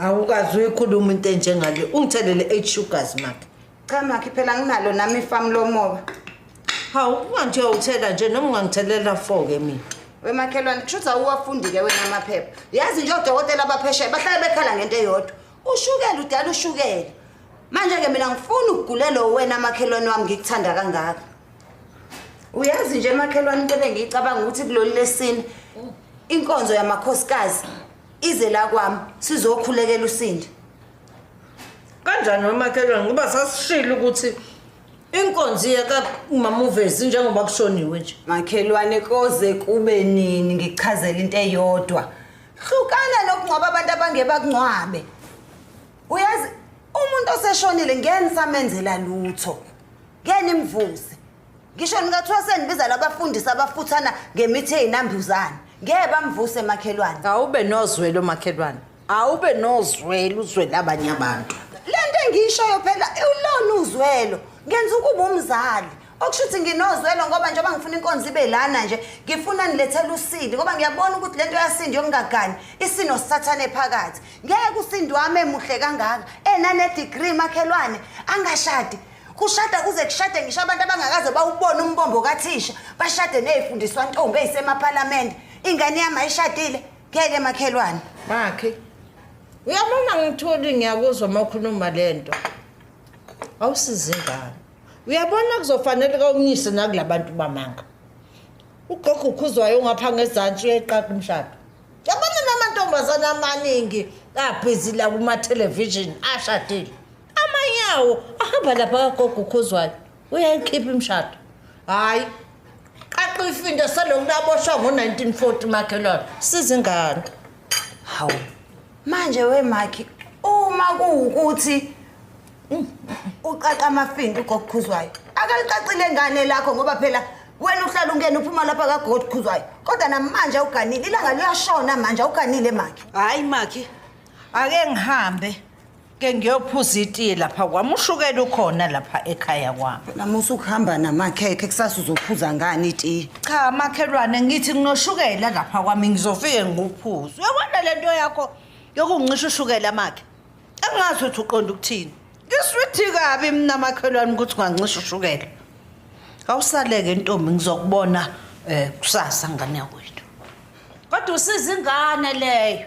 awukazi uyikhuluma into enjengale ungithelele eight sugars makhe cha makhe phela nginalo nami ifamu lomoba hawu ungangithi uyawuthela nje noma ungangithelela four ke mina wemakhelwane kusho ukuthi awuwafundi-ke wena amaphepha yazi nje odokotela abapheshayo bahlale bekhala ngento eyodwa ushukela udala ushukela manje-ke mina ngifuna ukugulelowo wena amakhelwane wami ngikuthanda kangaka uyazi nje emakhelwane into ebengiyicabanga ukuthi kuloli lesini inkonzo yamakhosikazi ize la kwami sizokhulekela usindi kanjani wemakhelwane ngoba sasishile ukuthi inkonzi yakamamuvezi njengoba kushoniwe nje makhelwane koze kube nini ngichazela into eyodwa hlukana nokungcwaba abantu abangebakungcwabe uyazi umuntu oseshonile ngeke nisamenzela lutho ngeke nimvuze ngisho nikathiwa sendibiza labafundisi abafuthana ngemithi eyinambuzane ngeke bamvuse makhelwane awube nozwelo makhelwane awube nozwelo uzwele abanye abantu le nto engiyishoyo phela ulona uzwelo ngenza ukuba umzali okusho ukuthi nginozwelo ngoba njengoba ngifuna inkonzo ibe lana nje ngifuna nilethele usindi ngoba ngiyabona ukuthi le nto yasindi yokungaganyi isino sisathane phakathi ngeke usindi wami emuhle kangaka enanedigri makhelwane angashadi kushada kuze kushade ngisho abantu abangakaze bawubone umbombo kathisha bashade ney'fundiswa ntombi eyisemaphalamende ingane yami ayishadile ngeke makhelwane bakhe uyabona ngitholi ngiyakuzwa uma ukhuluma le nto awusizi ingane uyabona kuzofanele kawumnyise nakula bantu bamanga ugogo ukhuzwayo ungapha ngezantsi uyayiqaqa umshado yabona namantombazane amaningi abhizi la kuma-television ashadile amanyawo ahamba lapha kagogo ukhuzwayo uyayikhipha imishado hhayi qaqa ifinto selokhu laboshwa ngo-1940 makhelwane sizingane hawu manje wemakhi uma kuwukuthi mm, uqaqa amafinto ugokukhuzwayo akalicacile ngane lakho ngoba phela wena uhlala ungena uphuma lapha kagod khuzwayo kodwa namanje awuganile ilanga liyashona manje awuganile makhe hhayi makhe ake ngihambe ke ngiyophuza itiye lapha kwami ushukela ukhona lapha ekhaya kwami nami usukuhamba namakhekhe kusasa uzophuza ngani itiye cha makhelwane ngithi nginoshukela lapha kwami ngizofike ngikuphuze uyabona le nto yakho yokungisho ushukela makhe angazi ukuthi uqonda ukuthini ngiswithi kabi mina makhelwane ukuthi ungancisha ushukela awusaleke ntombi ngizokubona um kusasa ngane yakwethu kodwa usiza ingane leyo